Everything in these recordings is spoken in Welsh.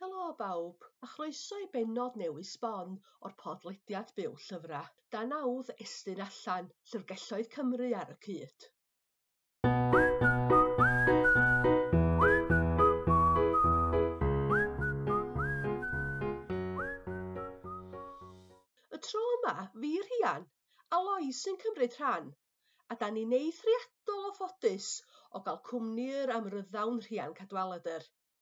Helo bawb, a chroeso i bennod newydd sbon o'r podlediad Byw Llyfrau. Da nawdd estyn allan, llyfrgelloedd Cymru ar y cyd. Y tro yma, fi Rhian, a Lois sy'n cymryd rhan, a da ni'n eithriadol o ffodus o gael cwmni yr amryddawn Rhian Cadwaladr.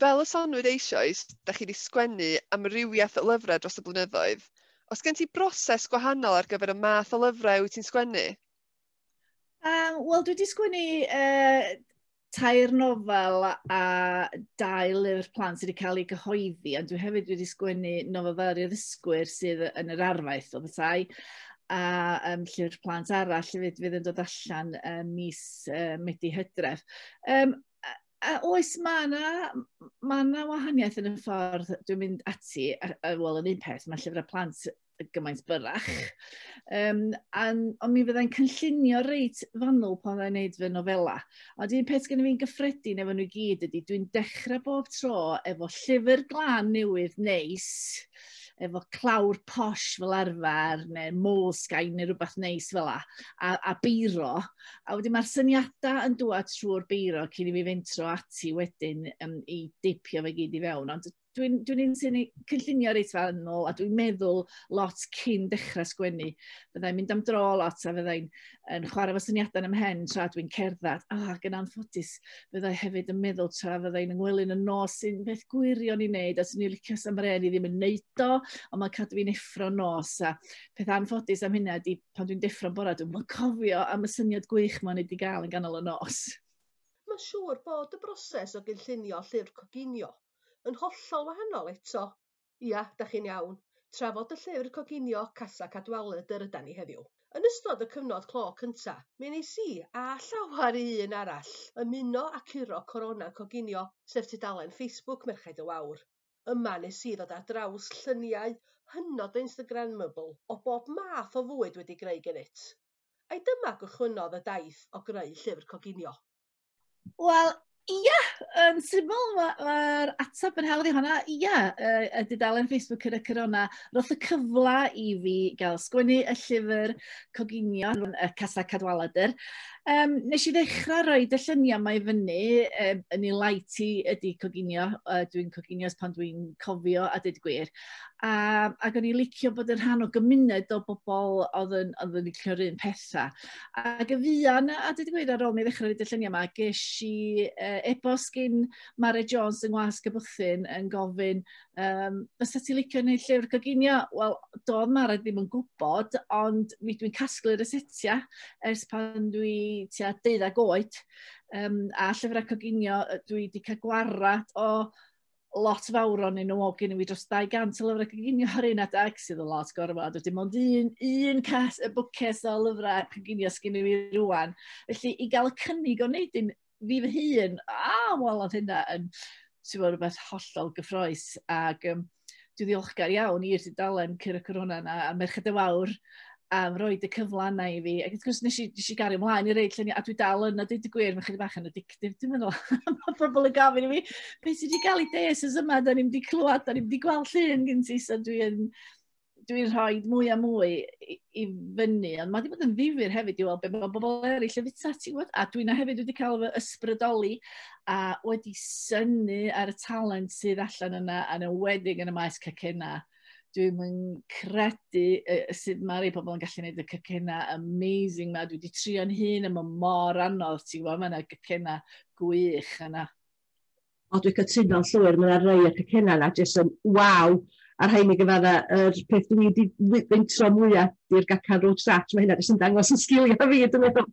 Fel y soniwyd eisoes, da chi wedi sgwennu amrywiaeth o lyfrau dros y blynyddoedd. Os gen ti broses gwahanol ar gyfer y math o lyfrau wyt ti'n sgwennu? Um, Wel, dwi wedi sgwennu uh, tair nofel a dau lyfr plant sydd wedi cael ei gyhoeddi, ond dwi hefyd wedi sgwennu nofel fel i'r ddysgwyr sydd yn yr arfaeth o bethau, a um, llyfr plant arall hefyd fydd yn dod allan um, mis uh, Medi Hydref. Um, a oes, mae yna ma na wahaniaeth yn y ffordd dwi'n mynd ati, a, a wel, yn un peth, mae llyfrau plant gymaint byrach. Um, an, ond mi fyddai'n cynllunio reit fanwl pan fyddai'n neud fy nofela. Ond un peth gen fi'n gyffredin efo nhw gyd ydy, dwi'n dechrau bob tro efo llyfr glan newydd neis, efo clawr posh fel arfer, neu moleskin neu rhywbeth neis fel la, a, a beiro. A wedyn mae'r syniadau yn dŵad trwy'r beiro cyn i fi fentro ati wedyn um, i deipio fe gyd i fewn. Ond dwi'n dwi, un sy'n cynllunio reit fel yn ôl a dwi'n meddwl lot cyn dechrau sgwennu. Fyddai'n mynd am dro lot a fyddai'n yn chwarae fy syniadau yn ym mhen tra dwi'n cerdded, a ac yn anffodus, byddai hefyd yn meddwl tra fyddai'n ymwelyn yn nos sy'n beth gwirion i wneud, a sy'n ei licio sam ren i ddim yn wneud o, ond mae'n cadw fi'n effro nos. A peth anffodus am hynna ydy, pan dwi'n deffro'n bora, dwi'n cofio am y syniad gwych mae'n wedi gael yn ganol y nos. Mae'n siŵr bod y broses o gynllunio llyfr coginio yn hollol wahanol eto Ia, da chi'n iawn. Trafod y llyfr coginio Casa Cadwaladr yr ydan ni heddiw. Yn ystod y cyfnod clo cynta, mi wnes i, a llawer un arall, ymuno â curo Corona Coginio, sef tudalen Facebook Merched y Wawr. Yma nes i ddod ar draws lluniau hynod Instagrammable o bob math o fwyd wedi greu genyt. Ai dyma gychwynnodd y daith o greu llyfr coginio? Wel, ia, yn syml, mae'r ma ateb yn hawdd i hwnna. Ia, y, y dudalen Facebook yn y corona, roedd y cyfle i fi gael sgwennu y llyfr coginio yn y Casa Cadwaladr. Um, nes i ddechrau rhoi y lluniau mae fyny um, yn ei light i ydy coginio. Uh, dwi'n coginio pan dwi'n cofio a dweud gwir. A, ac o'n i licio bod yn rhan o gymuned o bobl oedd yn, oedd yn licio'r un pethau. Ac y fuan, a dwi wedi gweud ar ôl mi ddechrau roed y lluniau yma, ges i uh, e-bost gyn Mare Jones yng Ngwas Cybythyn yn gofyn, um, fysa ti licio neu llyfr coginio? Wel, doedd Mare ddim yn gwybod, ond mi dwi'n casglu'r resetia ers pan dwi tua deuddag oed. Um, a llyfrau coginio dwi wedi cael gwarad o lot fawr o'n nhw, o gen i fi dros 200 o lyfrau coginio ar un adeg, sydd yn lot gorfod, a dim ond un, un cas, y bwces o lyfrau coginio sgyn i fi rwan. Felly, i gael y cynnig o wneud un fi fy hun, a, wel, oedd hynna yn, ti'n fawr, rhywbeth hollol gyffroes. Ac um, dwi ddiolchgar iawn i'r dudalen Cyr y Corona yna, a Merched y Wawr, a roi y cyfle yna i fi. Ac wrth gwrs, nes i, nes i gario mlaen i reid lluniau, a dwi dal yna, dwi wedi gwir, mae'n chydig bach yn addictif, dwi'n meddwl. Mae pobl yn gofyn i mi, beth sydd wedi cael ei des ys yma, da ni'n wedi clywed, da ni'n wedi gweld llun gen ti, so dwi'n dwi rhoi mwy a mwy i, i fyny, ond mae wedi bod yn ddifur hefyd i weld beth mae bobl eraill yn fita ti, gwybod? A dwi'n hefyd wedi cael fy ysbrydoli a wedi syni ar y talent sydd allan yna, yn ywedig yn y maes cacena. Dwi'n yn credu uh, sut mae rhai pobl yn gallu gwneud y cycena amazing ma. Dwi wedi trio'n hun yma mor anodd, ti'n gwybod, mae yna cycena gwych yna. O, dwi'n cytuno'n llwyr, mae yna rhai y cycena yna, jyst yn waw. A'r rhain i gyfadda, yr er peth dwi wedi feintro mwyaf di'r gacan road start, mae hynna jyst yn dangos yn sgiliau fi, dwi'n meddwl.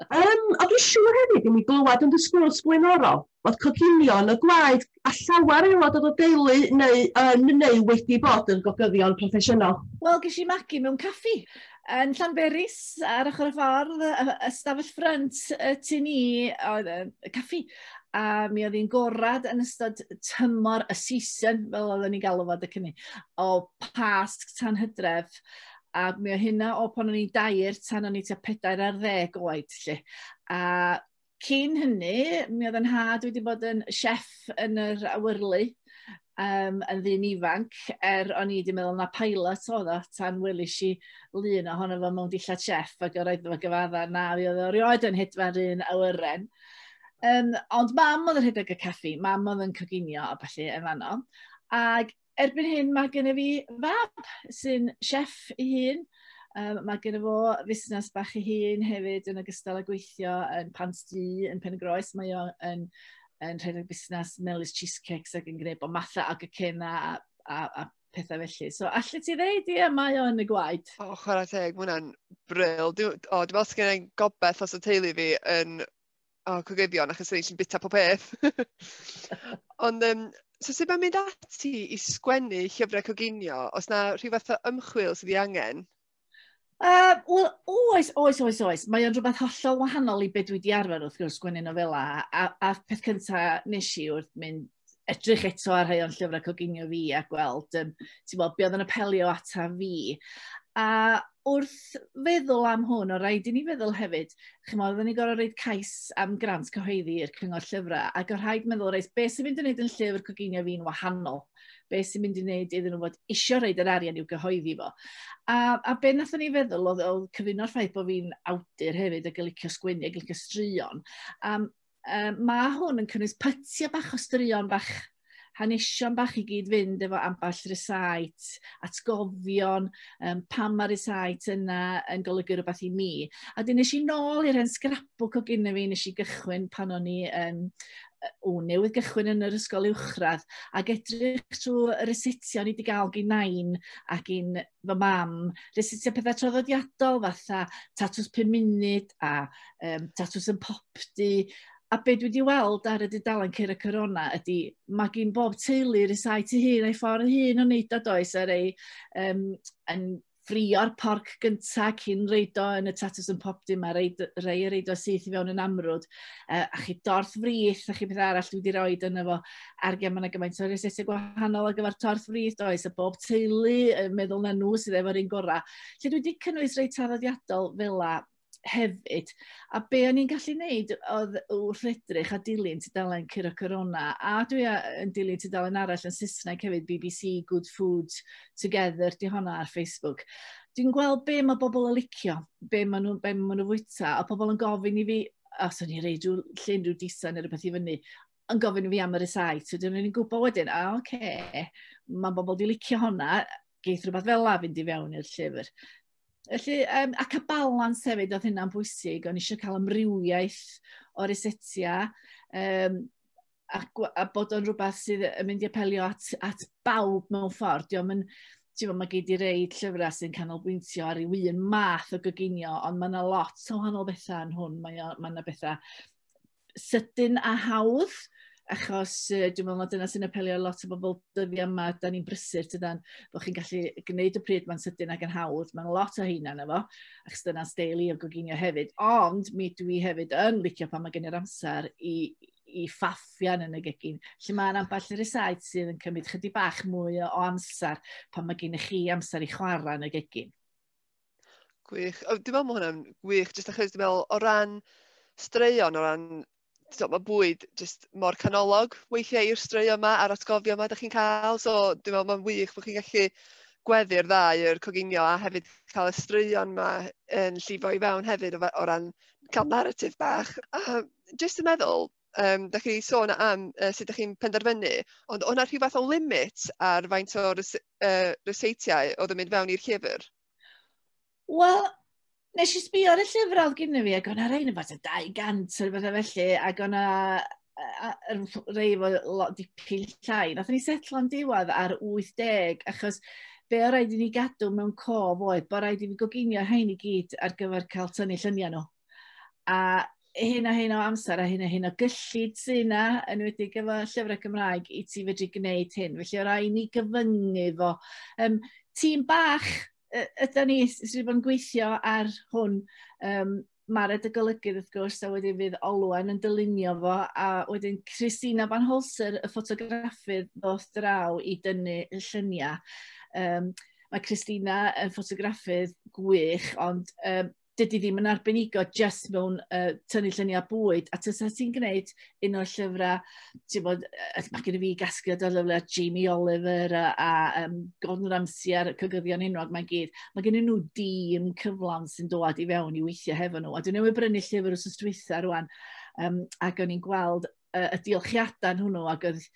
Um, a dwi'n siŵr hefyd i mi glywed yn dy sgwrs blaenorol bod coginio yn y gwaed a llawer aelod o'r deulu neu yn neu wedi bod yn gogyddion proffesiynol. Wel, ges i magu mewn caffi yn Llanberis ar ochr y ffordd, ystafell ffrynt y tu ni oedd y caffi a mi oedd hi'n gorad yn ystod tymor y season, fel oedden ni'n galw fod y cynnig, o past tan hydref. A mi o hynna o pan o'n i'n dair tan o'n i tua pedair ar ddeg oed, lle. A cyn hynny, mi oedd yn had wedi bod yn chef yn yr awyrlu um, yn ddyn ifanc, er o'n i wedi meddwl na pilot oedd o, tan welis i lun ohono fo mewn dillad chef, ac yr oedd fo gyfadda na fi oedd o rioed yn hedfa'r un awyren. Um, ond mam oedd yn rhedeg y caffi, mam oedd yn coginio a falle yn fanno. Ac erbyn hyn mae gen i fi fab sy'n chef ei hun. Um, mae gen i fo fusnes bach ei hun hefyd yn ogystal â gweithio yn Pant Du, yn Pen y Groes. Mae o yn, yn rhedeg busnes Melis Cheesecakes ac yn gwneud bod mathau ag y cena a, a, a pethau felly. So, allu ti ddeud, ie, mae o yn y gwaed. O, oh, chwarae teg, mae hwnna'n bril. Dwi'n meddwl sgan i'n gobeith os y teulu fi yn oh, cogyddion, achos rydyn ni'n bita pob peth. Ond, um, so sut mae'n mynd ati i sgwennu llyfrau coginio, os na rhyw fath o ymchwil sydd i angen? Uh, Wel, oes, oes, oes, oes. Mae o'n rhywbeth hollol wahanol i beth dwi wedi arfer wrth gwrs sgwennu nofela. A, a peth cyntaf nes i wrth mynd edrych eto ar rhai o'n llyfrau coginio fi a gweld um, ti'n bod, be oedd yn apelio ata fi. A wrth feddwl am hwn, o rhaid i ni feddwl hefyd, chymod, oedden ni'n gorau reid cais am grant cyhoeddi i'r cyngor llyfrau, ac o rhaid meddwl, reis, beth sy'n mynd i wneud yn llyfr coginio fi'n wahanol? Beth sy'n mynd i wneud iddyn nhw fod isio reid yr arian i'w gyhoeddi fo? A, a be nath ni feddwl oedd, oedd cyfuno'r ffaith bod fi'n awdur hefyd ac yn licio sgwennu ac yn licio straeon. Um, Um, mae hwn yn cynnwys pytiau bach o straeon bach hanesion bach i gyd fynd efo ambell resait, atgofion, um, pam mae resait yna yn golygu rhywbeth i mi. A dyn nes i nôl i'r hen scrapbook o gyn fi, nes i gychwyn pan o'n i um, o newydd gychwyn yn yr ysgol uwchradd ac edrych trwy y resettio ni wedi gael gyn nain ac un fy mam, nes i tua pethau traddodiadol fatha tatws pum munud a um, tatws yn popdy. A be dwi wedi weld ar y dudalen Ceir y Corona ydy, mae gen bob teulu rysau tu hun a'i ffordd hun o wneud o does, ar ei um, yn ffrio'r porc gynta cyn reid o yn y tatws yn pop dim a rei, rei reid o syth i fewn yn amrwd uh, a chi dorth frith a chi beth arall dwi wedi rhoi yn efo Ac ia, mae 'na gymaint o resyrtau gwahanol ar gyfer torth frith, does, a bob teulu yn meddwl na nhw sydd efo'r un gorau. Felly dwi wedi cynnwys rei traddodiadol fel la hefyd. A be o'n i'n gallu wneud oedd wrth edrych a dilyn tudalen Curo Corona, a dwi yn dilyn tudalen arall yn Saesneg hefyd, BBC Good Food Together, di honna ar Facebook. Dwi'n gweld be mae bobl yn licio, be maen nhw'n nhw, ma nhw fwyta, a pobl yn gofyn i fi, os o'n i reid rhyw llun rhyw disa neu rhywbeth i fyny, yn gofyn i fi am y resight. Wedyn o'n i'n gwybod wedyn, a oce, okay, mae bobl di licio honna, geith rhywbeth fel la fynd i fewn i'r llyfr. Felly, um, ac a balans hefyd oedd hynna'n bwysig, o'n eisiau cael amrywiaeth o resetia, um, a, a bod o'n rhywbeth sydd yn mynd i apelio at, at bawb mewn ffordd. Diolch yn, ti'n mae gyd i reid llyfrau sy'n canolbwyntio ar ei un math o gyginio, ond mae yna lot o wahanol bethau yn hwn. Mae yna bethau sydyn a hawdd, achos uh, dwi'n meddwl mae dyna sy'n apelio lot o bobl dyddiau yma, da ni'n brysur tydan, bod chi'n gallu gwneud y pryd mae'n sydyn ac yn hawdd, mae'n lot o heina na fo, achos dyna steil i o goginio hefyd, ond mi dwi hefyd yn licio pan mae gen i'r amser i, i ffaffian yn y gegin, lle mae'n ambell i'r esaid sydd yn cymryd chydig bach mwy o amser pan mae gen i chi amser i chwarae yn y gegin. Gwych. O, dwi'n meddwl mae hwnna'n wych, jyst achos dwi'n meddwl o ran straeon, o ran... So, mae bwyd jyst mor canolog weithiau i'r straeon yma a'r atgofion yma da chi'n cael. So, dwi'n meddwl mae'n wych bod chi'n gallu gweddu'r ddau, yr coginio a hefyd cael y straeon yma yn llifo i fewn hefyd o, o ran cael narratif bach. A jyst yn meddwl, um, da chi sôn am uh, sut ydych chi'n penderfynu, ond o'na rhyw fath o limit ar faint o rys uh, ryseitiau oedd yn mynd fewn i'r llyfr? Wel, nes i sbio ar y llyfr oedd gynnu fi, ac o'na rhain yn fath o 200 o'r bethau felly, ac o'na rei fo lot dipyn llai. Nath ni setlo am diwedd ar 80, achos be o rhaid i ni gadw mewn cof oedd bod rhaid i ni goginio rhain i gyd ar gyfer cael tynnu lluniau nhw. A hyn a hyn o amser a hyn a hyn o gyllid sy'n yna, yn wedi gyfo llyfrau Cymraeg, i ti fedru gwneud hyn. Felly o rai ni gyfyngu fo. Um, tîm bach ydy ni sydd wedi bod yn gweithio ar hwn. Um, Mae'r edygolygydd wrth gwrs a wedyn fydd Olwen yn dylunio fo a wedyn Christina Van Holser y ffotograffydd ddoth draw i dynnu y lluniau. Um, mae Christina yn ffotograffydd gwych ond um, dydy ddim yn arbenigo just mewn uh, tynnu lluniau bwyd. A tysa ti'n gwneud un o'r llyfrau, ti'n bod, mae gen i fi gasgliad o'r llyfrau Jamie Oliver a, a um, Gordon Ramsay a'r cygyddion enwog mae'n gyd. Mae gen i nhw dîm cyflawn sy'n dod i fewn i weithio hefo nhw. A dwi'n newydd brynu llyfr os ysdwytha rwan, um, ac o'n i'n gweld uh, y diolchiadau hwnnw ac oedd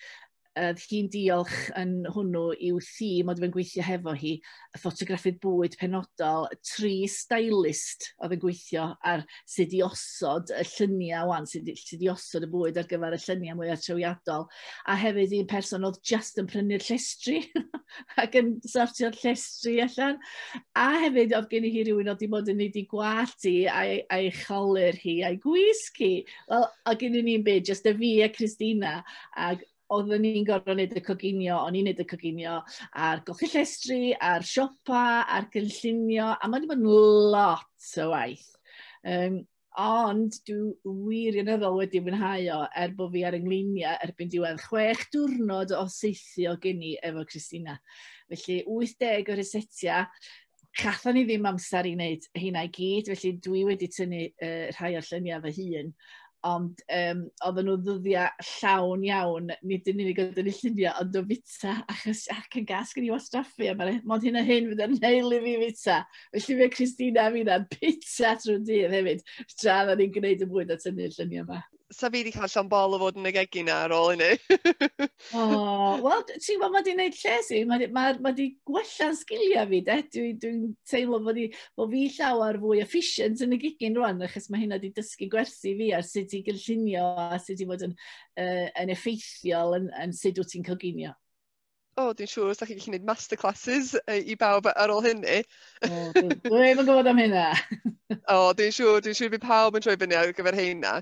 oedd hi'n diolch yn hwnnw i'w thîm oedd yn gweithio hefo hi, y ffotograffydd bwyd penodol, tri stylist oedd yn gweithio ar sut i osod y lluniau wan, sut, sut i osod y bwyd ar gyfer y lluniau mwyaf trewiadol, a hefyd un person oedd just yn prynu'r llestri ac yn sortio'r llestri allan, a hefyd oedd gen i hi rhywun oedd wedi bod yn ei di gwallt hi a'i, a'i cholur hi a'i gwisg hi, Wel, a gynnu ni'n byd, jyst y fi a Christina, ac oedden ni'n gorfod wneud y coginio, o'n i'n wneud y coginio, a'r golchi llestri, a'r siopa, a'r gynllunio, a mae'n bod yn lot o waith. Um, ond dwi wirioneddol wedi mwynhau o er bod fi ar yngleiniau erbyn diwedd chwech diwrnod o seithi o geni efo Christina. Felly 80 o resetiau, Gatho ni ddim amser i wneud hynna i gyd, felly dwi wedi tynnu uh, rhai o'r lluniau fy hun, ond um, oedden nhw ddyddiau llawn iawn, nid yn unig oedd yn y lluniau, ond o fita, achos ac yn gas gen i wastraffu, a mae'n mod hyn a hyn fydd yn heil i fi fita. Felly fe Christina a fi na bita trwy'r dydd hefyd, tra oedden ni'n gwneud y bwyd a tynnu'r lluniau yma. sa fi wedi cael llon bol o fod yn y gegi na ar ôl hynny. o, wel, ti'n gwybod, mae di wneud lles i, mae di, ma, ma di gwella'n sgiliau fi, de. Dwi'n dwi, teimlo bod, i, bod fi llawer fwy efficient yn y gigin rwan, achos mae hynna wedi dysgu gwersi fi ar sut i gynllunio a sut i fod yn, uh, yn effeithiol yn, yn sut wyt ti'n coginio. o, dwi'n siŵr os da chi'n gallu gwneud masterclasses i bawb ar ôl hynny. O, dwi ddim yn gwybod am hynna. o, dwi'n siŵr, dwi'n siŵr bydd pawb yn troi fyny ar gyfer hynna.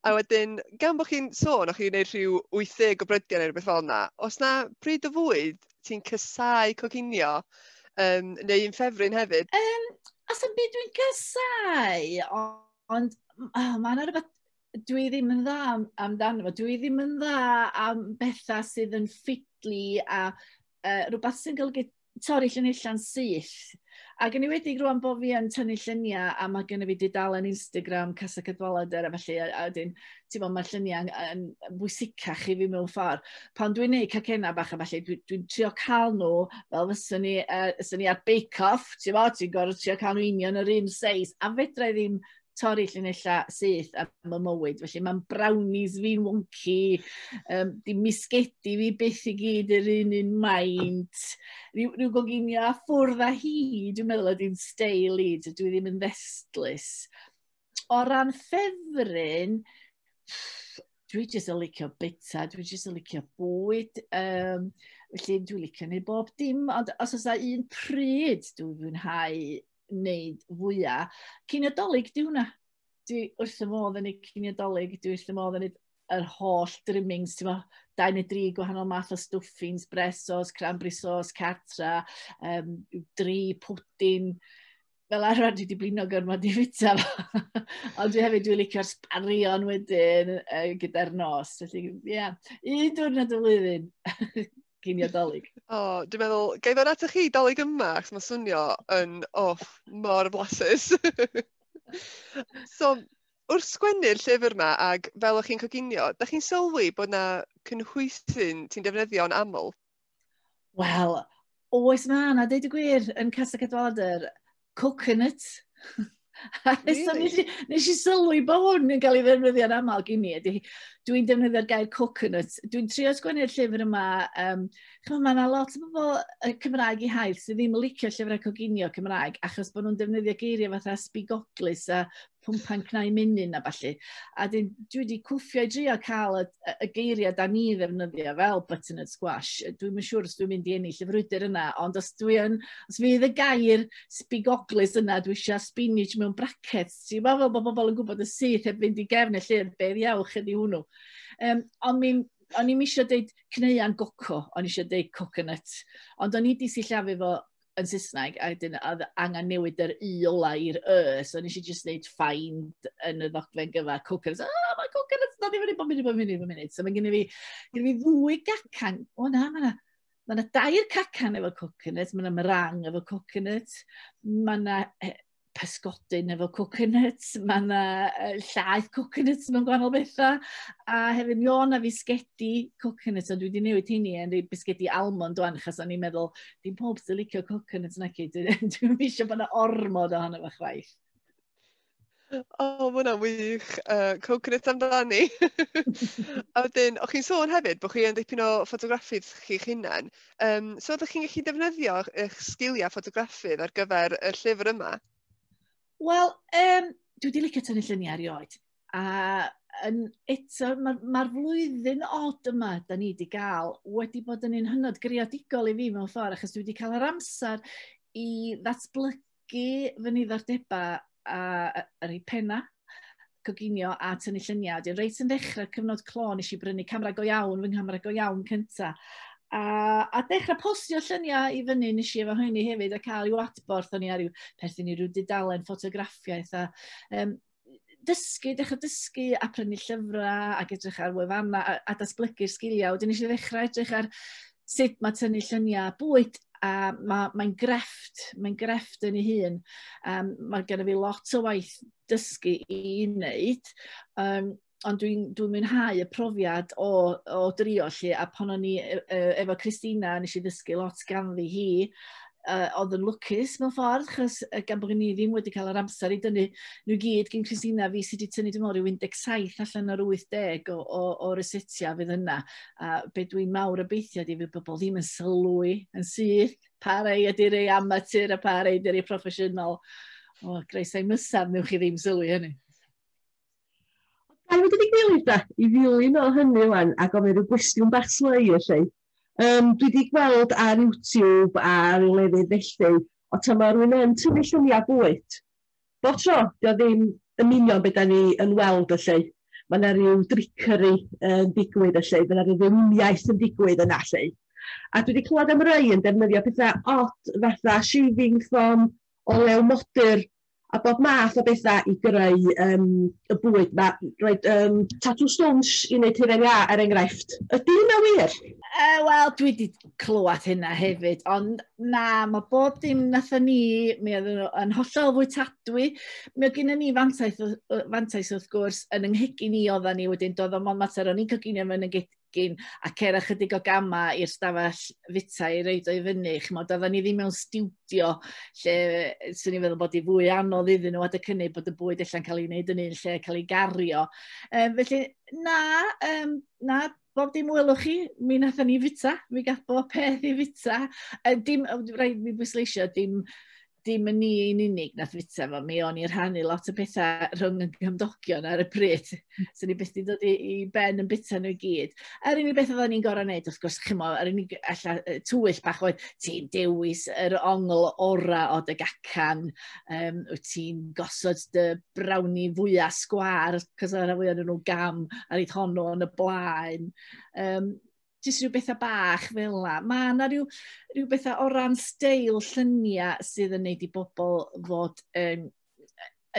A wedyn, gan bod chi'n sôn, o'ch chi'n gwneud rhyw 80 o brydiau neu rhywbeth fel yna, os na bryd o fwyd ti'n cysau coginio, um, neu un ffefryn hefyd? Um, os am byd dwi'n cysau, ond oh, mae yna rhywbeth dwi ddim yn dda amdano fo. Dwi ddim yn dda am bethau sydd yn ffidlu a uh, rhywbeth sy'n golygu torri llunilla'n syth. Ac yn wedi rwan bod fi yn tynnu lluniau a mae gen i fi dudalen Instagram Casa Cadwaladr a felly a, a wedyn, ti'n bod, mae'r lluniau yn, yn bwysicach i fi mewn ffordd. Pan dwi'n neud cacena bach a felly, dwi'n dwi trio cael nhw fel fyswn ni, uh, fyswn ni ar bake-off, ti'n bod, ti'n gorfod trio cael nhw union yr un seis a fedra i ddim torri llinellau syth ar fy mywyd. Felly mae'n brownies fi'n wonci, um, di misgedi fi byth i gyd yr un un maint, rhyw, rhyw goginio a ffwrdd a hi, dwi'n meddwl ydy'n steil i, dwi ddim yn ddestlus. O ran ffefryn, dwi jyst yn licio bita, dwi jyst yn licio bwyd, um, felly dwi'n licio neu bob dim, ond os oes un pryd dwi'n fwynhau wneud fwyaf. Cyniadolig, di hwnna. Dwi wrth y modd yn ei cyniadolig, dwi wrth y modd yn ei yr holl drimmings, ti'n meddwl, dau neu dri gwahanol math o stwffins, bresos, cranberry sauce, cartra, um, dri pwdin, fel arfer dwi wedi blino gormod i fita fo. Ond dwi hefyd dwi'n licio'r sbarion wedyn uh, gyda'r nos. Felly, ie, yeah. un diwrnod y flwyddyn. gei mi ar dolyg. O, oh, dwi'n meddwl, gai ddod atoch chi dolyg yma, ac mae'n swnio yn, oh, mor blasus. so, wrth sgwennu'r llyfr yma, ac fel o'ch chi'n coginio, da chi'n sylwi bod yna cynhwysyn ti'n defnyddio'n aml? Wel, oes mae yna, dweud y gwir, yn Casa Cadwaladr, coconut. really? so nes, i, nes i sylwi bod hwn yn cael ei ddefnyddio'n aml gen i. Dwi'n defnyddio'r gair coconut. Dwi'n trio sgwennu'r llyfr yma. Um, Chymru, mae yna lot o bobl y Cymraeg i hael sydd ddim yn licio llyfrau coginio Cymraeg achos bod nhw'n defnyddio geiriau fatha spigoglus a pumpan cnau menyn a ballu. A dwi wedi cwffio i drio cael y, y geiriau da ni ddefnyddio fel butternut squash. Dwi'n yn siŵr os dwi'n mynd i ennill y frwydr yna, ond os dwi yn, os fydd y gair sbigoglus yna, dwi eisiau spinach mewn brackets. Ti'n meddwl fel bod bobl yn gwybod y syth heb fynd i gefn y llyfr, beth iawch ydi hwnnw. Um, ond mi'n o'n i'n eisiau deud cneuan goco, o'n eisiau deud coconut, ond o'n i wedi sillafu fo yn Saesneg, a dyn, oedd angen newid yr i ola i'r y, so nes i just neud find yn y ddogfen gyfa coconuts. Ah, oh, mae coconuts, na ddim yn ei bod mynd, bod mynd, bod mynd. So mae gen i fi, gen i fi ddwy gacan. O na, mae na, mae na dair cacan efo coconuts, mae na mrang efo coconuts, mae na pysgodyn efo coconuts, mae yna llaeth coconuts mewn gwahanol bethau, a hefyd mi o'n na fisgedi coconuts, ond dwi wedi newid hynny yn rhoi bisgedi almond o'n, achos o'n i'n meddwl, dim pob sy'n licio coconuts na cyd, dwi'n eisiau bod yna ormod ohono fo chwaith. O, oh, mae hwnna'n wych. Uh, coconut amdani. a wedyn, o'ch chi'n sôn hefyd bod chi yn dipyn o ffotograffydd chi'ch hunain. Yym, so ydych chi'n gallu defnyddio eich sgiliau ffotograffydd ar gyfer y llyfr yma? Wel, um, dwi wedi licio tynnu lluniau erioed. A yn, eto, mae'r ma, ma flwyddyn od yma, da ni wedi gael, wedi bod yn un hynod greadigol i fi mewn ffordd, achos dwi wedi cael yr amser i ddatblygu ysgogi fy niddordebau a yr eu penna, coginio a tynnu lluniau. Dwi'n reit yn ddechrau cyfnod clo, nes i brynu camera go iawn, fy nghamera go iawn cynta. A, a dechrau postio lluniau i fyny nes i efo hynny hefyd a cael i'w adborth o'n i ar i'w perthyn i ryw dudalen ffotograffiaeth a um, dysgu, dechrau dysgu a prynu llyfrau ac edrych ar wefannau a, a datblygu'r sgiliau. Wedyn nes i ddechrau edrych ar sut mae tynnu lluniau bwyd a mae'n mae grefft, mae'n grefft yn ei hun. Um, mae gen i fi lot o waith dysgu i wneud. Um, ond dwi'n dwi mwynhau y profiad o, o drio lle, a pan o'n i e, e, efo Christina, nes i ddysgu lot ganddi hi, uh, oedd yn lwcus mewn ffordd, chos uh, gan bod ni ddim wedi cael yr amser i dynnu nhw gyd gyn Christina fi sydd wedi tynnu dim ond rhyw 17 allan o'r 80 o, o, o resetia fydd yna. A be dwi'n mawr obeithio di fydd bobl ddim yn sylwi yn syth pa rei ydy rei amatur a pa rei ydy rei proffesiynol. O, greisau mysaf, newch chi ddim sylwi hynny. Gawn ni dod i gilydd de, i ddilyn o hynny ŵan a gofyn rhyw gwestiwn bach slei felly. Yym dwi 'di gweld ar YouTube a ryw lefydd felly, o tan ma' rywun yn tynnu llunia' bwyd, bob tro, 'di o ddim yn union be' 'dan ni yn weld felly, ma' 'na ryw drickery yn digwydd felly, ma' 'na ryw ddeiliaeth yn digwydd yna felly. A dwi 'di clywed am rei yn defnyddio petha od fatha shaving foam, olew modur, a bob math o betha i greu yym y bwyd 'ma. Roedd yym tatŵ stwnsh i wneud hufen iâ er enghraifft. Ydy hynna wir? Yy wel dwi 'di clywed hynna hefyd ond na ma' bob dim nathon ni mi oedden nhw yn hollol fwytadwy mi oedd gynnon ni fantais yy yy fantais wrth gwrs yn 'y nghegin i oddan ni wedyn doedd o'm on' mater o'n i'n coginio fy ngeg- gegin a cer ychydig o gamau i'r stafell fita i reid o'i fyny. Chymod, oedden ni ddim mewn studio lle swn i'n feddwl bod i fwy anodd iddyn nhw adeg hynny bod y bwyd allan cael ei wneud yn un lle cael ei gario. Um, felly, na, um, na, bob dim welwch chi, mi nathon ni fita, mi gath bob peth i fita. Uh, dim, rhaid mi bwysleisio, dim dim yn ni yn unig nath fita fo, mi o'n i'n rhannu lot o pethau rhwng y gymdogion ar y pryd. Hmm. so ni beth di dod i, i ben yn bita nhw i gyd. A'r unig beth oedden ni'n gorau wneud, wrth gwrs, chi'n mo, a'r unig alla, twyll bach oedd, ti'n dewis yr ongl ora o dy gacan, um, wyt ti'n gosod dy brawni fwyaf sgwar, cos o'r fwy o'n nhw gam ar eith honno yn y blaen. Um, jyst rhyw bethau bach fel la. Mae yna rhyw, rhyw bethau o ran steil lluniau sydd yn neud i bobl fod yn,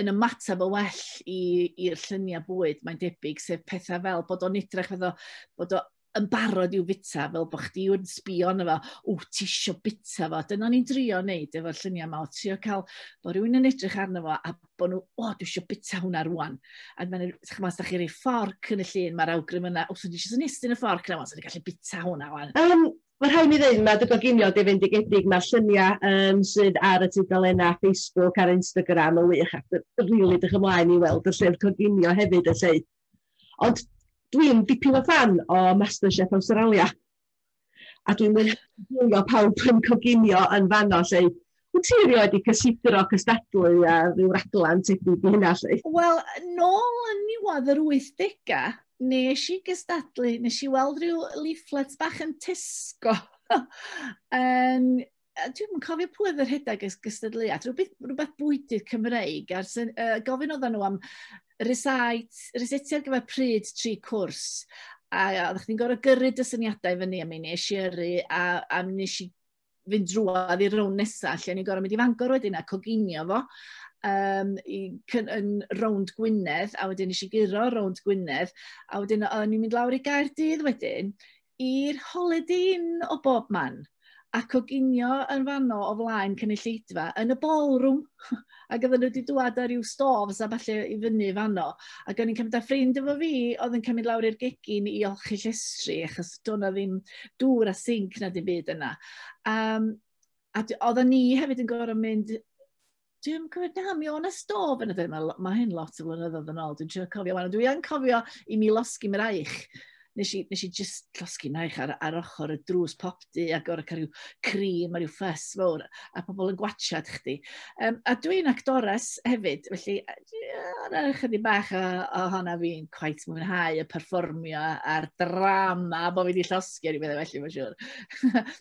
yn ymateb o well i'r lluniau bwyd, mae'n debyg, sef pethau fel bod o'n edrych fyddo, bod o'n yn barod i'w fita, fel bod chdi yn sbio yna fo, o, ti isio bita fo. Dyna ni'n drio wneud efo'r lluniau yma, o trio cael bod rhywun yn edrych arno fo a bod nhw, o, dwi eisiau bita hwnna rwan. A mae'n nhw, chymod, os da chi rei fforc yn y llun, mae'r awgrym yna, wrth dwi eisiau nestyn y fforc yna, os da gallu bita hwnna rwan. Um, mae rhaid mi ddweud, mae dy goginio di fynd i gedig, mae'r lluniau um, sydd ar y tudalennau Facebook a'r Instagram yn wych, ac rili really dych ymlaen i weld y llyfr coginio hefyd y lle. Ond dwi'n dipyn o fan o Masterchef Awstralia. A dwi'n mynd o pawb yn coginio yn fanno lle. Wyt ti erioed wedi cysidro cystadlu a rhyw raglen tebyg i hynna lle? Wel, nôl yn niwad yr 80au, nes i gystadlu, nes i weld rhyw leaflets bach yn Tesco yn dwi'n yn cofio pwy oedd yr rhedeg ys gystadleuaeth, rhywbeth, rhywbeth bwydydd Cymreig, a'r syn, uh, gofyn oedden nhw am rysait, rysetiad gyfer pryd tri cwrs, a oeddech chdi'n gorau gyrru dy syniadau fyny, a mi nes i yrru, a, a mi nes i fynd drwad i'r rown nesaf, lle ni'n gorau mynd i fangor wedyn a coginio fo, um, i, yn rownd Gwynedd, a wedyn nes i guro rownd Gwynedd, a wedyn o'n i'n mynd lawr i Gaerdydd wedyn, i'r holidin o bob man a coginio yn fanno o flaen cynulleidfa yn y ballroom ac oedden nhw wedi dŵad â rhyw stoves a falle i fyny fanno. Ac o'n i'n cymryd â ffrind efo fi oedd yn cymryd lawr i'r gegin i olchi llestri achos do'n na ddim dŵr a sinc na dim byd yna. Um, a oedden ni hefyd yn gorfod mynd Dwi'n cofio pam mi o'n na stôf yn y dde. Mae ma hyn lot o flynyddoedd yn ôl. Dwi'n trio cofio wan. Dwi yn cofio i mi losgi mi raich. Nes i, nes i just losgi mi raich ar, ar ochr y drws pop di a gorau cael rhyw cream a rhyw ffys fawr a pobl yn gwachad chdi. Um, a dwi'n actores hefyd, felly yna chydig bach o, o honna fi'n quite mwynhau y perfformio a'r drama bod fi wedi llosgi ar ei meddwl felly, mae'n siŵr.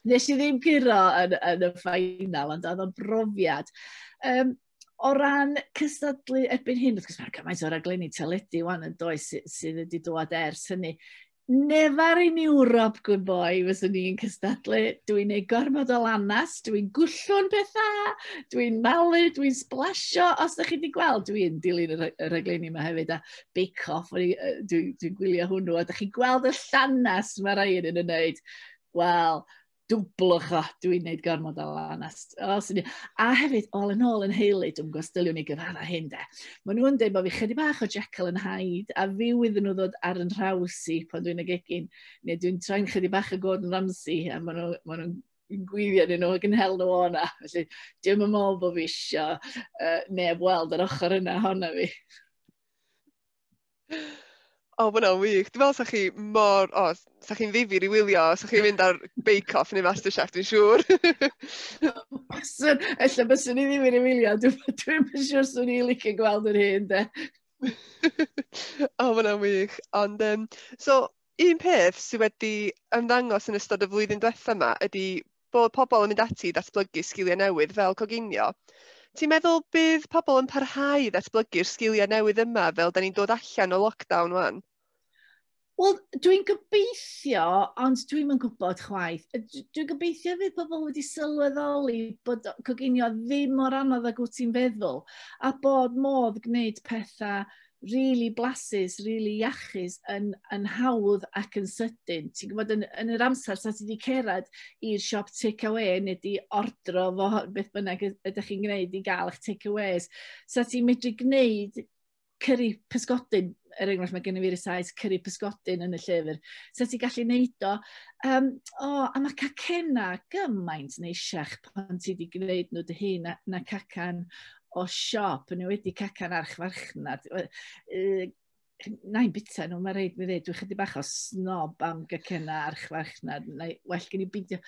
nes i ddim curo yn, yn y ffainal, ond oedd o'n brofiad. Um, o ran cystadlu erbyn hyn, wrth gwrs mae'r cymaint o raglenni teledu wan yn does sydd, sydd wedi dod ers hynny. Nefar in Ewrop, gwyn boi, fyswn ni'n cystadlu. Dwi'n ei gormod o lanas, dwi'n gwllwn pethau, dwi'n malu, dwi'n splasio. Os ydych chi wedi gweld, dwi'n dilyn y rhaglenni yma hefyd. A Bake Off, dwi'n dwi, dwi gwylio hwnnw, a da chi'n gweld y llanes mae rhai yn ei wneud. Wel, dwblwch o, dwi'n gwneud gormod o lanes. A hefyd, all yn ôl yn heili, dwi'n gwrs, dyliwn ni gyfara hyn de. Mae nhw'n dweud bod fi chydig bach o Jekyll yn haid, a fi wydden nhw ddod ar yn rhaws i pan dwi'n y gegin, neu dwi'n troi'n chydig bach o Gordon Ramsay, a maen nhw'n ma nhw yn gwylio ni nhw ac yn hel nhw o'na. Felly, dim yn meddwl bod fi eisiau uh, neb weld yr ochr yna honna fi. O, oh, mae'n wych. Dwi'n meddwl sa'ch chi mor... O, oh, sa'ch chi'n ddifir i wylio. Sa'ch chi'n mynd ar Bake Off neu Masterchef, dwi'n siŵr. Baswn, ella baswn i ddifir i wylio. Dwi'n dwi siŵr swn i'n licio gweld yr hyn, de. o, oh, mae'n wych. Ond, um, so, un peth sydd wedi ymddangos yn ystod y flwyddyn diwethaf yma ydy bod pobl yn mynd ati i ddatblygu sgiliau newydd fel coginio. Ti'n meddwl bydd pobl yn parhau i ddatblygu'r sgiliau newydd yma fel da ni'n dod allan o lockdown wan? Wel, dwi'n gobeithio, ond dwi'n yn gwybod chwaith. Dwi'n gobeithio fydd pobl wedi sylweddoli bod coginio ddim mor anodd ag wyt ti'n feddwl, a bod modd gwneud pethau rili blasus, rili iachus, yn, yn hawdd ac yn sydyn. Ti'n gwybod, yn, yn yr amser sa ti wedi cerad i'r siop take-away neu di ordro fo beth bynnag ydych chi'n gwneud i gael eich take-aways, sa ti'n medru gwneud cyrru pysgodyn, er enghraifft mae gen i fi'r saes cyrru pysgodyn yn y llyfr, sa ti'n gallu gwneud o, um, o, a mae cacena gymaint neisiach pan ti wedi gwneud nhw dy hun na, na cacan o siop, yn wedi cacan archfarchnad. Uh, na i'n bita nhw, mae rhaid mi ddweud, dwi'n chydig bach o snob am gacena archfarchnad. Na, well gen i beidio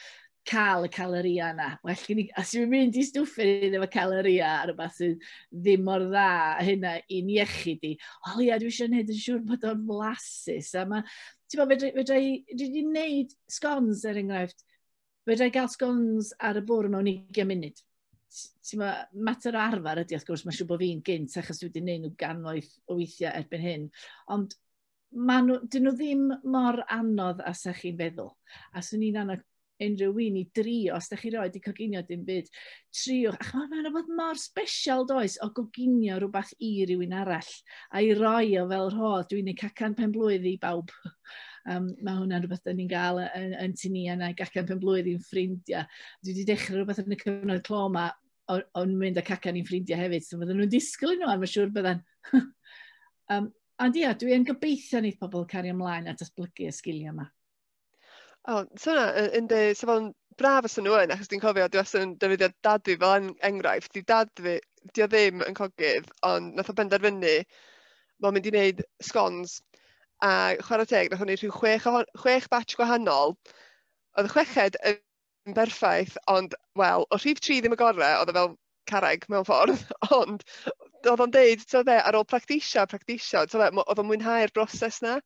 cael y caloria yna. Well gen i, os yw'n mynd i stwffyn i ddim y caloria ar y bas sydd ddim mor dda hynna i'n iechyd i. O ia, dwi eisiau gwneud yn siŵr bod o'n flasus. A mae, ti'n bod, fedra i, fedra i, dwi wedi gwneud scones er enghraifft, fedrai gael scones ar y bwrdd mewn 20 munud. Ti'n ma, mater o arfer ydy, wrth gwrs, mae'n siŵr bod fi'n gynt, achos dwi wedi gwneud nhw gannoedd o weithiau erbyn hyn. Ond maen nhw, dyn nhw ddim mor anodd a sa chi'n feddwl. A swn i'n anodd unrhyw un i drio, os da chi roed i coginio dim byd, triwch. A chymod, mae'n rhywbeth mor special, does, o goginio rhywbeth i rywun arall, a'i roi o fel rhodd. Dwi'n ei cacan pen blwydd i bawb. Um, mae hwnna'n rhywbeth da ni'n gael yn, yn tu ni, a na gacan pen blwydd i'n ffrindiau. Dwi wedi dechrau rhywbeth yn y cyfnod clo yma, o'n mynd â cacan i'n ffrindiau hefyd, so fydden nhw'n disgwyl nhw, a mae'n siŵr bydden. um, ond ia, dwi'n gobeithio wneud pobl cario ymlaen at asblygu y sgiliau yma. O, so na, yn, yn de, so fo'n braf os nhw yn, achos dwi'n cofio, dwi os yn defnyddio dad fi fel en- enghraifft, di dad fi, di o ddim yn cogydd, ond nath o benderfynu, mae'n mynd i wneud scones, a chwarae teg, nath o'n wneud rhyw chwech, ohon- chwech batch gwahanol, oedd y chweched yn yn berffaith, ond wel, o rhif tri ddim y gorau, oedd o fel carreg mewn ffordd, ond oedd o'n deud, ti'n fe, ar ôl practisio, practisio, ti'n fe, oedd o'n mwynhau'r broses na,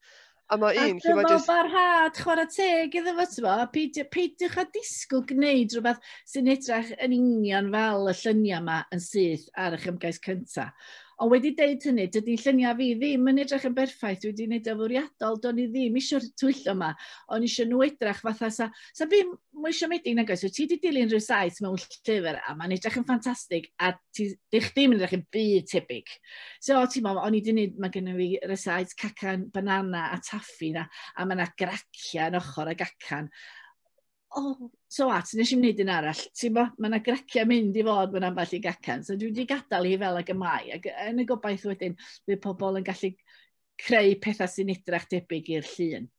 a mae un... A dyma just... barhad chwarae teg iddo fo, ti'n fe, peidiwch a disgwyl gwneud rhywbeth sy'n edrych yn union fel y lluniau yma yn syth ar eich ymgais cyntaf. Ond wedi deud hynny, dydy lluniau fi ddim yn edrych yn berffaith, wedi wneud o fwriadol, do'n i ddim eisiau'r twyllo yma, o'n eisiau nhw edrych fatha sa So ddim mwy siomedig nag oes. So ti wedi dilyn rhyw saith mewn llyfr a mae'n edrych yn ffantastig a ti, di chdi yn edrych yn byd tebyg. So ti'n meddwl, o'n i wedi gwneud, mae gennym fi rysait cacan, banana a taffi na, a mae yna gracia yn ochr y gacan. Oh, so at, nes i'n gwneud un arall. Ti'n bo, mae yna gracia mynd i fod mewn ambell i gacan. So dwi wedi gadael hi fel ag y mae. Ac yn y gobaith wedyn, bydd pobl yn gallu creu pethau sy'n edrych debyg i'r llun.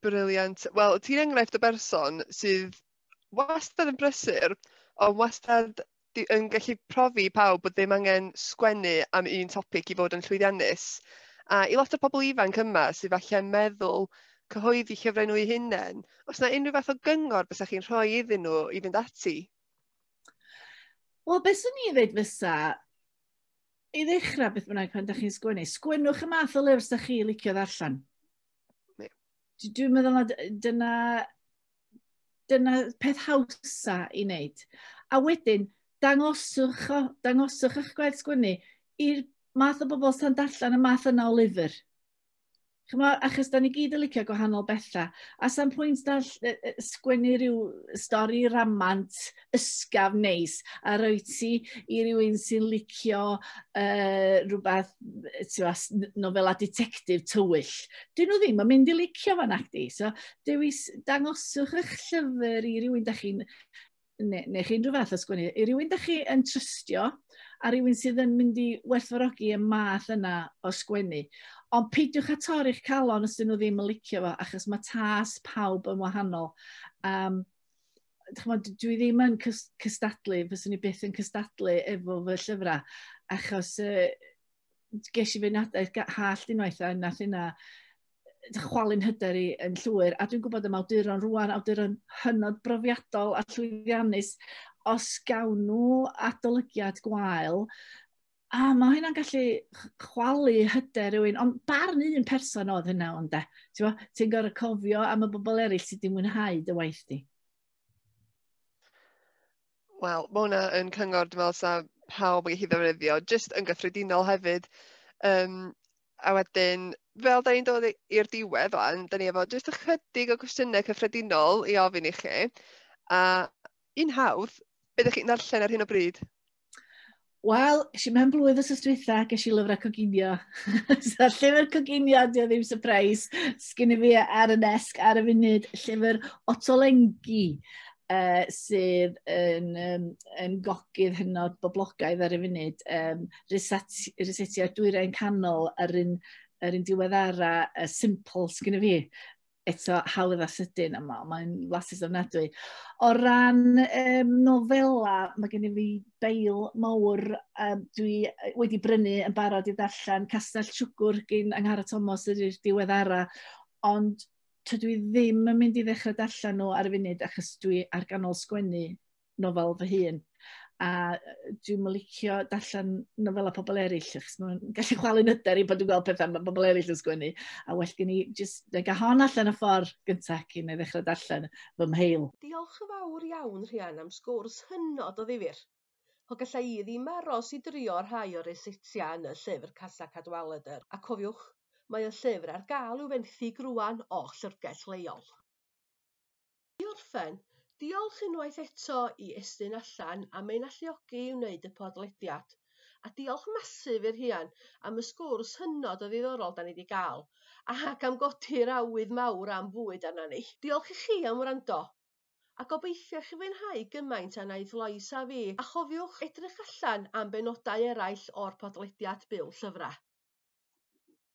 Brilliant. Wel, ti'n enghraifft o berson sydd wastad yn brysur, ond wastad di- yn gallu profi i pawb bod ddim angen sgwennu am un topic i fod yn llwyddiannus. A i lot o pobl ifanc yma sydd falle yn meddwl cyhoeddi llyfrau nhw eu hunain, os yna unrhyw fath o gyngor bysach chi'n rhoi iddyn nhw i fynd ati? Wel, beth swn i'n dweud fysa, i ddechrau beth bynnag pan ydych chi'n sgwennu, sgwennwch y math o lyfr sydd chi licio ddarllen. Dwi'n meddwl na dyna, dyna peth hawsa i wneud. A wedyn, dangoswch, o, dangoswch eich gwaith sgwennu i'r math o bobl sy'n darllen y math yna o lyfr. Chymo, achos da ni gyd yn licio gwahanol bethau. A sa'n pwynt da sgwennu rhyw stori ramant ysgaf neis a roi ti i rywun sy'n licio uh, rhywbeth, tiwa, nofela detectif tywyll. Dyn nhw ddim yn mynd i licio fan acti. So, dewis, dangoswch eich llyfr i rywun da chi'n neu, neu chi unrhyw fath o sgwennu, i rywun da chi yn trystio a rywun sydd yn mynd i werthfawrogi y math yna o sgwennu. Ond peidiwch â torri'ch calon os dyn nhw ddim yn licio fo, achos mae tas pawb yn wahanol. Um, chymod, dwi ddim yn cystadlu, fyswn i byth yn cystadlu efo fy llyfrau, achos uh, ges i fy nadaeth hall unwaith a nath yna chwalu'n hyder i yn llwyr. A dwi'n gwybod y mawduron rwan, awduron hynod brofiadol a llwyddiannus, os gawn nhw adolygiad gwael, a mae hynna'n gallu chwalu hyder rhywun, ond barn un person oedd hynna ond e. Ti'n ti gorau cofio am y bobl eraill sydd wedi mwynhau dy waith di. Wel, ma' hwnna yn cyngor dwi me'wl sa pawb yn gellu ddefnyddio jyst yn gyffredinol hefyd yym a wedyn fel 'dan ni'n dod i- i'r diwedd ŵan 'dan ni efo jyst ychydig o gwestiyne cyffredinol i ofyn i chi a un hawdd, be' 'dach chi'n ddarllen ar hyn o bryd? Wel, eisiau i mewn blwydd os ysdwytha, ges i lyfrau coginio. so, llyfr coginio, di o ddim surprise. Sgyn i fi ar y nesg ar y funud llyfr Otolengi, uh, sydd yn, um, yn gogydd hynod boblogaidd ar y funud. Um, Rysetio dwyrain canol ar un, ar un diweddara uh, simple sgyn i fi. eto hawdd a sydyn a mae'n ma flasus ofnadwy. O ran um, nofela, mae gen i fi beil mawr um, dwi wedi brynu yn barod i ddarllen Castell Siwgwr gyn Anghara Thomas yr i'r diweddara, ond tydw i ddim yn mynd i ddechrau darllen nhw ar y funud achos dwi ar ganol sgwennu nofel fy hun, a yy dwi'm yn licio darllen nofelau pobl eraill, achos maen nhw'n gallu chwalu'n hyder i pan dwi'n gweld petha ma' pobl eraill yn sgwennu, a well gen i jyst dega hon allan y ffordd gynta cyn i ddechrau darllen fy mheil. Diolch yn fawr iawn Rhian am sgwrs hynod o ddifyr. O galla i ddim aros i drio rhai o'r eseitia yn y llyfr Casa Cadwaladr, a cofiwch, mae y llyfr ar gael i'w fenthyg rŵan o llyfrgell leol. I orffen, diolch unwaith eto i Estyn Allan am ein alluogi i wneud y podlediad. A diolch masif i'r Rhian am y sgwrs hynod o ddiddorol da ni wedi gael, ac am godi'r awydd mawr am fwyd arna ni. Diolch i chi am wrando, a gobeithio i chi fwynhau gymaint â wnaeth Lois a fi, a chofiwch edrych allan am benodau eraill o'r podlediad Byw Llyfrau.